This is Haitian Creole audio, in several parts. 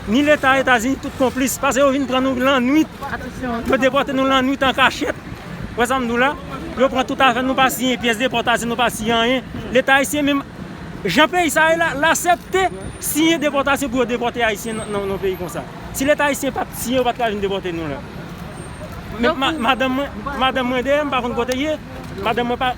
Ni leta etazini tout konplis pase yo vin pran nou lannwit yo depote nou lannwit an kachet ou wè sa m di w la yo pran tout afè nou pa siyen pyès depòtasyon nou pa siyen anyen leta ayisyen menm jan peyi sa ye la l asèpte siyen depòtasyon pou yo depote ayisyen nan yon peyi konsa si leta ayisyen pa t siyen yo pa t ka vin depote nou la madanm mwen deyè m pa konn kote l ye madanm mwen pa.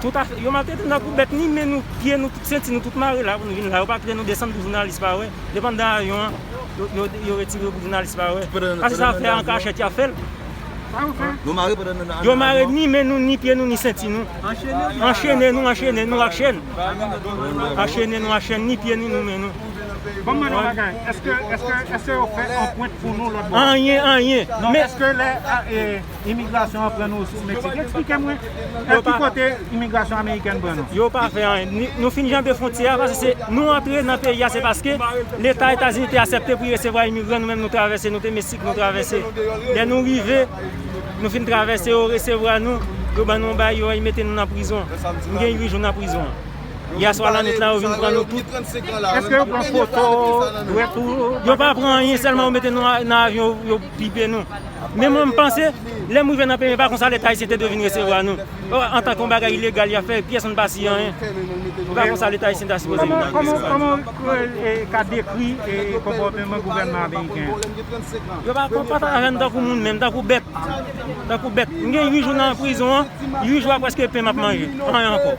Tout afè yo maltrete n tankou bèt ni men nou pye nou tout senti nou tout mare la pou nou vin la yo pa kite nou desann pou jounalis pa wè depann dan avyon an yo retire yo pou jounalis pa wè pase sa fè an kachèt yap fèl yo mare ni men nou ni pye nou ni senti nou anchene nou anchene nou ak chèn anchene nou ak chèn ni pye nou ni men nou banm mande yon bagay èske yo fè anpwent pou nou lòt bò anyen anyen men èske lè Imigrasyon an pran nou sou Mexique explike mwen nan ki kote imigrasyon American pran nou. Yo pa fè anyen nou fin janbe fontyè a paske se nou antre nan peyi a se paske leta etazini te asèpte pou resevwa imigran nou menm nou travèse nou te mesik nou travèse lè nou rive nou fin travèse yo resevwa nou yo ban nou yon bayo yo mete nou nan prizon m gen 8 jou nan prizon yaswa la nwit la yo vin pran nou tout eske yo pran foto dwèt ou yo pa pran anyen selman yo mete nou nan avyon yo Pipe nou. Men mwen m panse, lè m rive nan peyi m e pa konsa leta ayisyen te dwe vin resevwa nou. Antanke yon bagay ilegal y ap fè, pyèson pa siye anyen. E pa konsa leta ayisyen ta sipoze vin resevwa nou. Kòman ou ka dekri konpòteman gouvènman ameriken an? Yo pa konpòte avè nou tankou moun menm, tankou bèt. Tankou bèt. M gen 8 jou nan prizon an, 8 jou a prèske pen m ap manje, anyen ankò.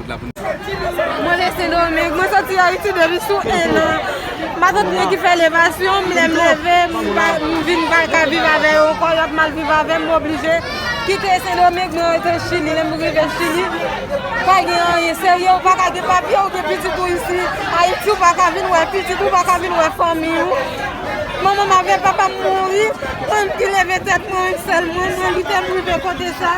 Mwen de sendomeng, mwen soti ayiti depi sou 1 an, matant mwen ki fè levasyon m, lèm leve m vin paka viv avè yo ankò yap mal viv avèm m oblije kite sendomeng mwen rete chili, lèm rive chili pa gen anyen serye ou paka gen papye ou gen pitit ou isi, ayiti ou paka vin wè pitit ou paka vin wè fanmi ou manman m avè papam mouri mwen ki leve tèt mwen sèl mwen mwen lite m rive kote sa.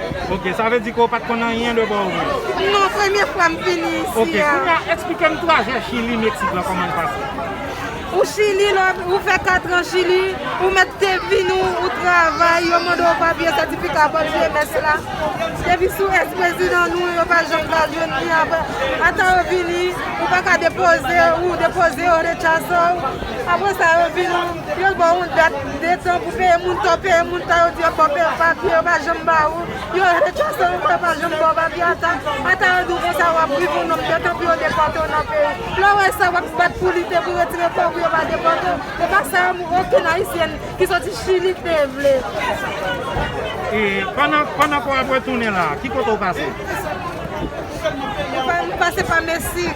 Ok, sa vle di ke w pat konn anyen de bò vre? Non, premye fwa m vini isi a. Ok, kounye a eksplike m trajè Chili, Meksik lan kòman l pase? Ou Chili, lè ou fè katran Chili, ou mèt te vini ou travay, yo mande w papye, sètifika bon CMS la, depi sou ex prezidan nou yo pa janm ka jwenn li aprè, ata yo vini, ou pa ka depoze, ou depoze yo rechasse w, aprè sa yo vini, yo ba w yon dat. Detan pou peye moun to peye moun ta yo di yo baw papye yo pa janm ba ou yo retrase ou yo pa janm baw papye ata ata yo di ou konsa wap viv ou nonm detan pou yo depòte ou nan peyi ou lè ou wè sa wap bat pou lite pou retire kòw pou yo pa depòte ou e pa sa yo mou okenn ayisyen ki soti chili te vle. E pandan kòw ap retounen la ki kote ou pase? Mwen pase pa meksik.